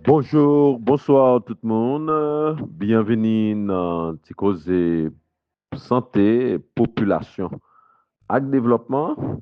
Bonjour, bonsoir tout moun. Byenveni nan ti koze sante, popilasyon ak devlòpman.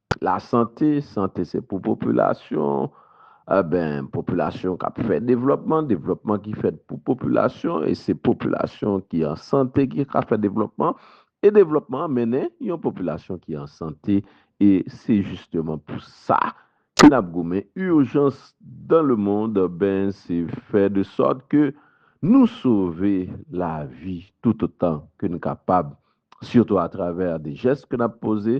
Lasante, sante se pou popilasyon, enben popilasyon k ap fè devlòpman, devlòpman ki fèt pou popilasyon e se popilasyon ki an sante ki ka fè devlòpman e devlòpman an mennen yon popilasyon ki an sante e se jisteman pou sa ke n ap goumen urjans dan le mond enben se fè de sòt ke nou sove lavi toutotan ke n kapab sitou atravè de jès ke n ap poze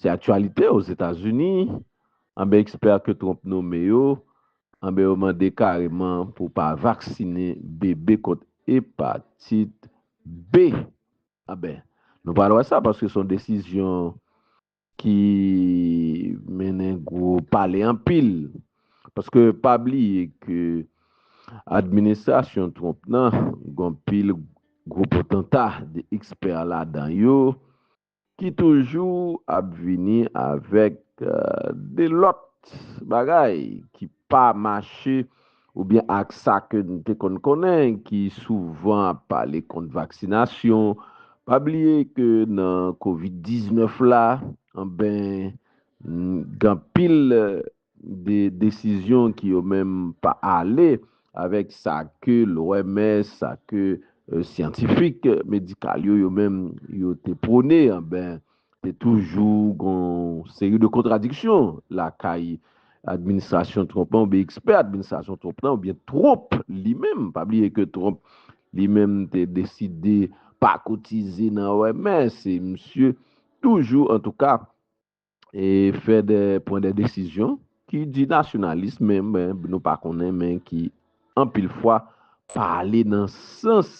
Se aktyalite Ozetazini, anben ekspè ke Trump nome yo, anben yo mande kareman pou pa vaksine bebe kont epatit B. Anben, nou pral wè sa paske son desizyon ki mennen gwo pale anpil. Paske pa bliye ke administrasyon Trump nan gon pil gwo potanta de ekspè ladan yo Ki toujou ap vini avèk de lòt bagay ki pa mache oubyen ak sa ke n te konn konnen ki souvan ap pale kont vaksinasyon. Pa bliye ke nan covid 19 la, anben, gen anpil de desizyon ki yo menm pa ale avèk sa ke l'OMS, sa ke syantifik medikal yo, yo menm yo te pwone, anben te toujou gon seri de kontradiksyon lakay administrasyon Trump lan oubyen ekspè administrasyon Trump lan oubyen Trump li menm. Pa bliye ke Trump li menm te deside pa kotize nan OMS e misye toujou antouka. e fè dè pran dè desizyon ki di nasyonalis men nou pa konnen men ki anpil fwa pa ale nan sans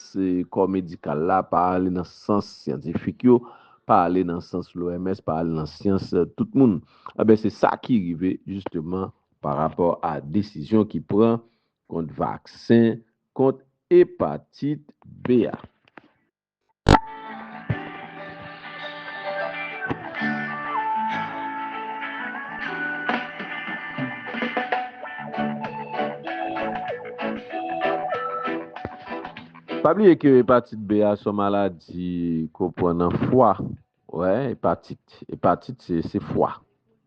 kò medikal la, pa ale nan sans syantifik yo, pa ale nan sans loms, pa ale nan sans tout moun. Enben se sa ki rive jisteman pa rapò a desizyon ki pran kont vaksen kont epatit B a. Pa bliye ke epatit B a son maladi ke w pran nan fwa. Wè, epatit. Epatit se, se fwa.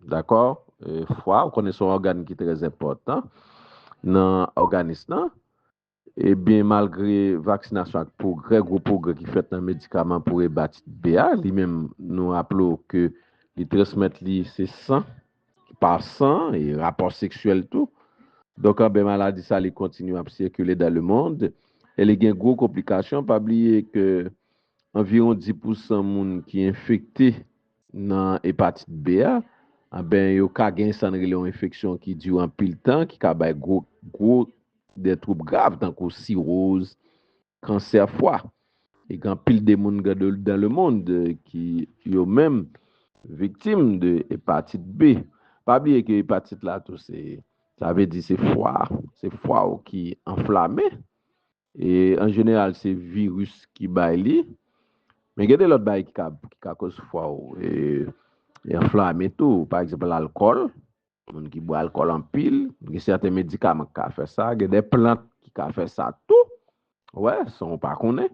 Dakò? Fwa, ou konnen son ògàn ki trèzenpòtan nan òganis lan. Ebyen malgre vaksinasyon ak pwogrè, gwo pwogrè ki fèt nan medikaman pou ebatit B a, li menm nou raple w ke li transmèt li se san, pa san e rapò seksyèl tou. Donk anben maladi sa li kontinye ap sikile dan le mond e li gen gwo konplikasyon. Pa bliye ke anviwon 10 pousan moun ki enfekte nan epatit B a, anben yo ka gen sa n rele yon enfeksyon ki dire anpil tan, ki ka bay gwo gwo de twoub grav tankou siroz, kansè fwa. E gen anpil de moun dan le mond ki yo menm viktim de epatit B. Pa bliye ke epatit la tou se, sa vle di se fwa, se fwa ou ki anflame. E an jeneral se viris ki bay li. Men gen de lòt bagay ki ka koz fwa ou anflame tou. Pa egzanp, lalkòl, Moun ki bwè alkòl anpil, gen sèten medikaman ki ka fè sa, gen de plant ki ka fè sa tou. Ou wè, san ou pa konnen.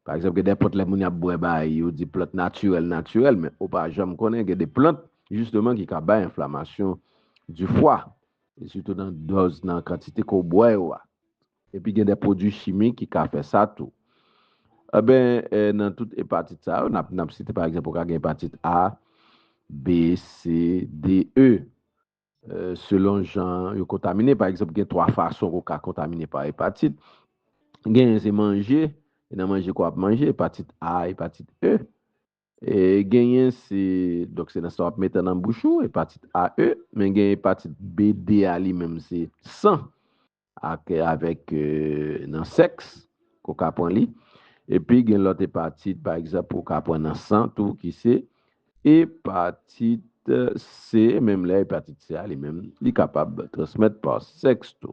Pa egzanp, gen de plant lè moun y ap bwè bay, yo di plant natirèl natirèl, men ou pa janm konnen gen de plant jisteman ki ka bay enflamasyon di fwa, e sitou nan dòz, nan kantite ke w bwè yo a. Epi gen de pwodui chimik ki ka fè sa tou. Enben, nan tout epatit sa yo, n ap site pa egzanp, ou ka gen epatit A, B, C, D, E. Selon jan yo kontamine, pa egzanp, gen twa fason ke w ka kontamine pa epatit. Genyen se manje, e nan manje ke w ap manje, epatit A, epatit E. Genyen se, donk se nan sa w ap mete nan bouch ou, epatit A, E, men gen epatit B, D a li menm se san ak avèk nan sèks ke w ka pran li. Epi gen lòt epatit pa egzanp ou ka pran nan san tou ki se epatit C, menm lè epatit C a li menm li kapab transmèt pa sèks tou.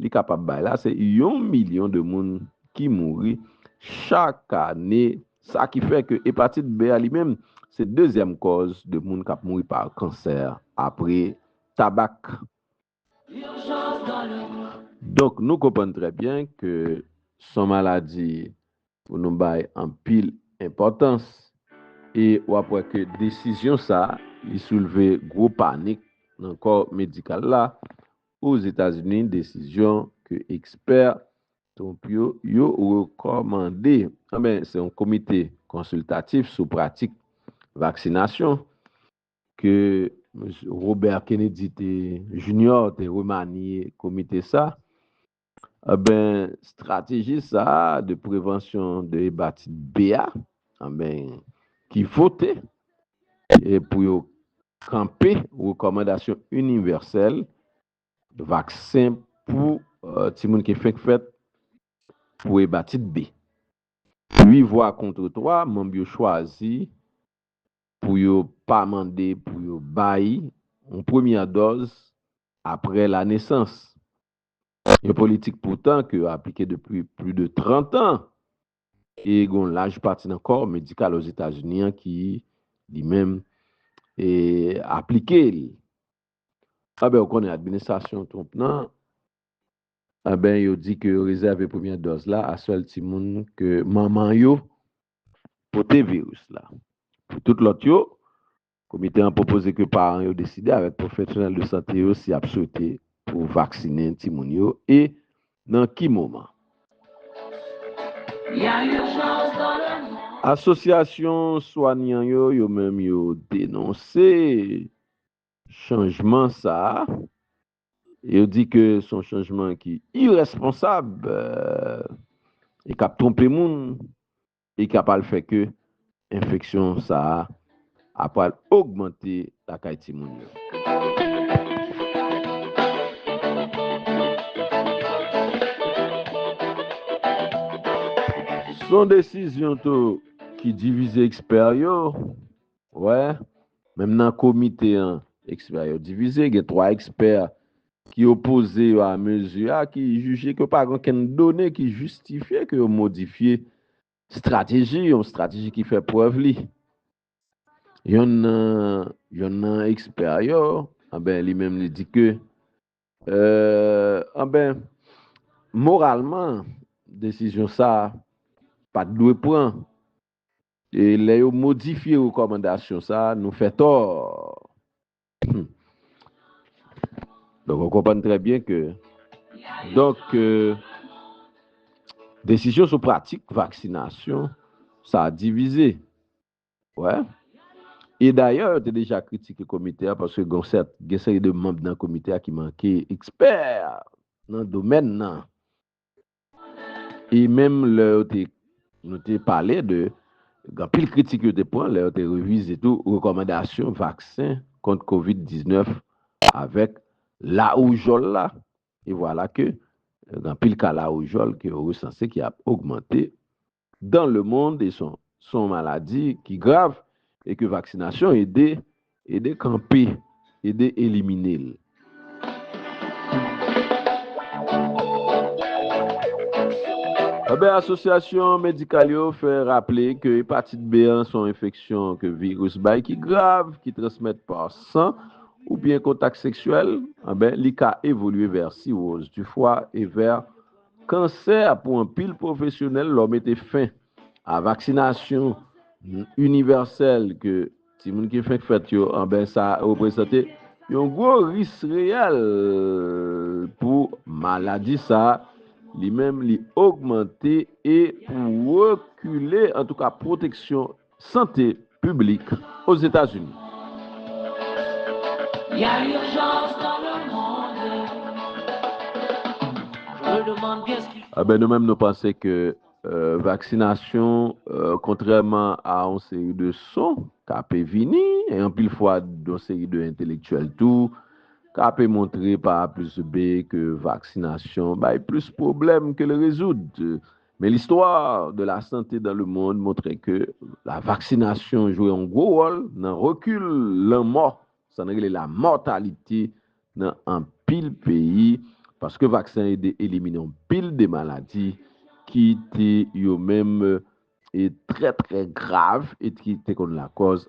li kapab bay la se yon milyon de moun ki mouri chak ane, sa ki fè ke epatit B a li menm se dezyèm kòz de moun kap mouri pa kansè apre tabak. Donk nou konprann trè byen ke son maladi pou nou bay anpil enpòtans e w ap wè ke desizyon sa li soulve gwo panik nan kò medikal la Ozetazini, desizyon ke ekspè Trump yo yo rekòmande anben se yon komite konsiltatif sou pratik vaksinasyon ke Robert Kennedy te Junior te remaniye komite sa Anben strateji sa a de prevansyon de hebatite B a anben ki vote e pou yo kanpe rekòmandasyon inivèsèl vaksen pou timoun ki fenk fèt pou hebatite B. Ui vwa kontre twa manb yo chwazi pou yo pa mande pou yo bay yon premyè dòz apre lanesans Yon politik poutan ke yo aplike depi pli de 30 an e gen yon laj pati nan kò medikal Ozetazini an ki, li menm, aplike li. Anben, ou konnen administrasyon Trump nan, anben yo di ke yo rezève premyè dòz la a sèl timoun ke manman yo pote viris la. Pou tout lòt yo, Komite an pwopoze ke paran yo deside avèk pwofesyonèl de sante yo si y ap swete pou vaksinen timoun yo e nan ki moman. Asosyasyon swanyan yo yo menm yo denonse chanjman sa a e yo di ke se yon chanjman ki irèsponsab e k ap twonpe moun Li ka pral fè ke enfeksyon sa a ap pral ogmante lakay timoun yo. Son desizyon tou ki divize ekspè yo Wè, menm nan komite an, ekspè yo divize. Gen 3 ekspè ki opoze yo a mezi a, ki jije ke pa gen okenn done ki jistifye ke yo modifye strateji, yon strateji ki fè prèv li. Yonn nan, yonn nan ekspè yo, anben li menm li di ke, anben, moralman, desizyon sa a pa t dwe pran. E lè yo modifye rekòmandasyon sa a, nou fè tò. Hum. Donk, ou konprann trè byen ke donk ke desizyon sou pratik vaksinasyon sa a divize. Wè. E dayè, yo te deja kritike komite a paske gen yon sèt, gen seri de manb nan komite a ki manke ekspè nan domèn nan. E menm lè yo te. Nou te pale de gen anpil kritik yo te pran lè yo te revize tou rekòmandasyon vaksen kont covid 19 avèk lawoujòl la e vwala ke gen anpil ka lawoujòl ke yo resanse ki ap ogmante dans le monde e son son maladi ki grav e ke vaksinasyon ede ede kanpe ede elimine l. Anben asosyasyon medikal yo fè raple ke epatit B an son enfeksyon ke viris bay ki grav ki transmèt pa san oubyen kontak seksyèl anben li ka evolye vè siwoz di fwa e vè Kansè a pou anpil pwofesyonèl lò mete fen a vaksinasyon inivèsèl ke timoun ki fenk fèt yo anben sa reprezante yon gwo ris reyèl pou maladi sa li menm li ogmante e pou rekile antouka pwoteksyon Sante Piblik Ozetazini. Enben nou menm nou panse ke vaksinasyon kontrèman a yon seri de son k ape vini e anpil fwa yon seri de entelektyèl tou k ape montre pa a plis be ke vaksinasyon bay plis pwoblèm ke l rezoud. Men l'histoire de la santé dans le monde montre ke la vaksinasyon jwe yon gwo wòl nan rekil lanmò, sa n rele la mortalité, nan anpil peyi, paske vaksen ede elimine yon pil de maladi ki te yo menm e trè trè grav e ki te konn lakòz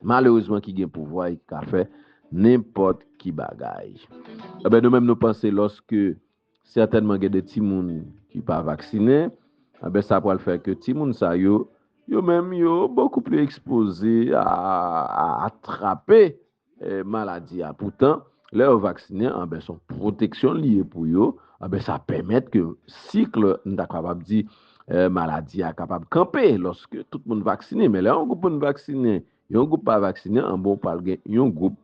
malerezman ki gen pouvwa e ki ka fè nenpòt ki bagay. Enben nou menm nou panse lòske sètènman gen de timoun ki pa vaksinen, enben sa pral fè ke timoun sa yo, yo menm yo bokou pli ekspoze a atrape maladi a. Poutan lè yo vaksinen, enben son pwoteksyon li ye pou yo, enben sa pèmèt ke sikl, m ta kapab di, Maladi a kapab kanpe lòske tout moun vaksinen, men lè yon gwoup moun vaksinen, yon gwoup pa vaksinen, anben ou pral gen yon gwoup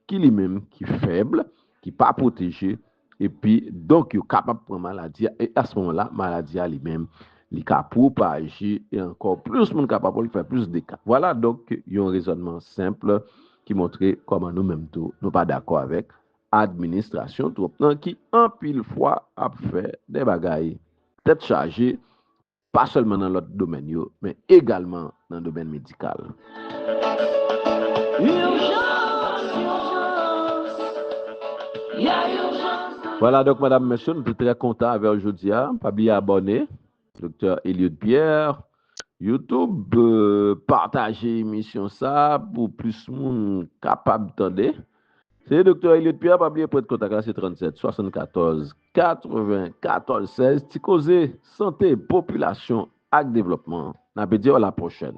ki li menm ki fèb, ki pa pwoteje, epi donk yo kapab pran maladi a, e a se moman la maladi a li menm li ka pwopaje e ankò plis moun ka pa pran l fè plis dega. Vwala donk yon rezònman senp ki montre kòman nou menm tou nou pa dakò avèk administrasyon Trump nan ki anpil fwa ap fè de bagay. Tèt chaje, pa sèlman nan lòt domèn yo, men egalman nan domèn medikal. Vwala donk madam mesye m te trè kontan avèw jodia pa bliye abòne Doktè Eliud Pierre. YouTube pataje emisyon sa pou plis moun kapab tande. Se Doktè Eliot Pierre, pa bliye pwent kontak la se 37 74 94 16 ti koze sante popilasyon ak devlòpman. N ape diw a la pwochèn.